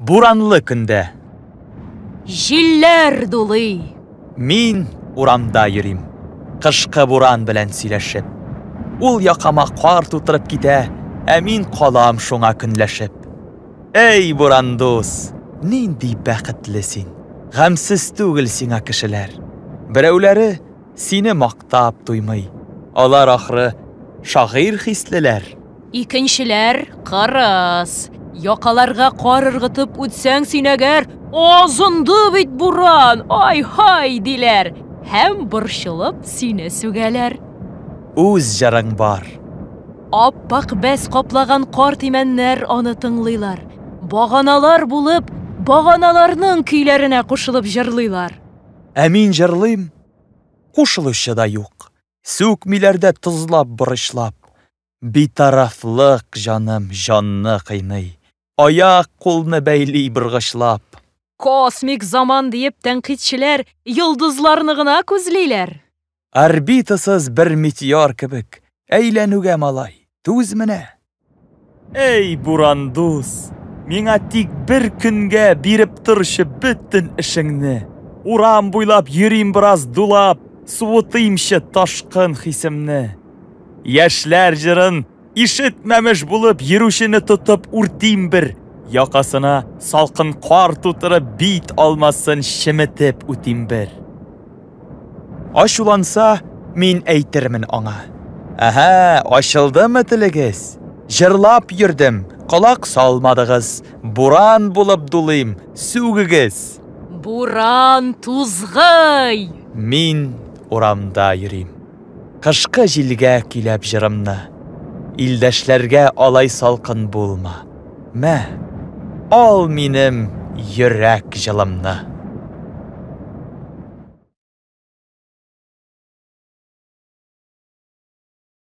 Буранлы көндә. Җилләр дулый. Мин урамда йөрим. Кышкы буран белән сөйләшеп. Ул якама кар тутырып китә, ә мин калам шуңа көнләшеп. Әй, буран дус, нинди бәхетле син! Гамьсез түгел сиңа кешеләр. Берәүләре сине мактап туймый. Алар, ахры, шагыйрь хислеләр. Икенчеләр кырыс. Якаларга кар ыргытып үтсәң синәгәр, азынды бит буран, ай-һай, диләр һәм борчылып сине сүгәләр. Үз җырың бар. Ап-ак бәс каплаган карт имәннәр аны тыңлыйлар. Баганалар булып, баганаларның көйләренә кушылып җырлыйлар. Ә мин җырлыйм, кушылучы да юк. Сүкмиләр дә тозлап-борычлап. Битарафлык, җаным, җанны кыйный. Аяк, кулны бәйли боргычлап. Космик заман диеп тәнкыйтьчеләр йолдызларны гына күзлиләр. Орбитасыз бер метеор кебек әйләнүгә малай, түз менә! Әй, буран дус, миңа тик бер көнгә биреп торчы бөтен эшеңне. Урам буйлап йөрим бераз дулап, суытыймчы ташкын хисемне. Яшьләр җырын ишетмәмеш булып йөрүчене тотып үртим бер, якасына салкын кар тутырып бит алмасын чеметеп үтим бер. Ачуланса, мин әйтермен аңа. Әһә, ачылдымы телегез? Җырлап йөрдем, колак салмадыгыз, буран булып дулыйм, сүгегез! Буран тузгый! Мин урамда йөрим. Кышкы җилгә көйләп җырымны. Илдәшләргә алай салкын булма. Мә, ал минем йөрәк җылымны.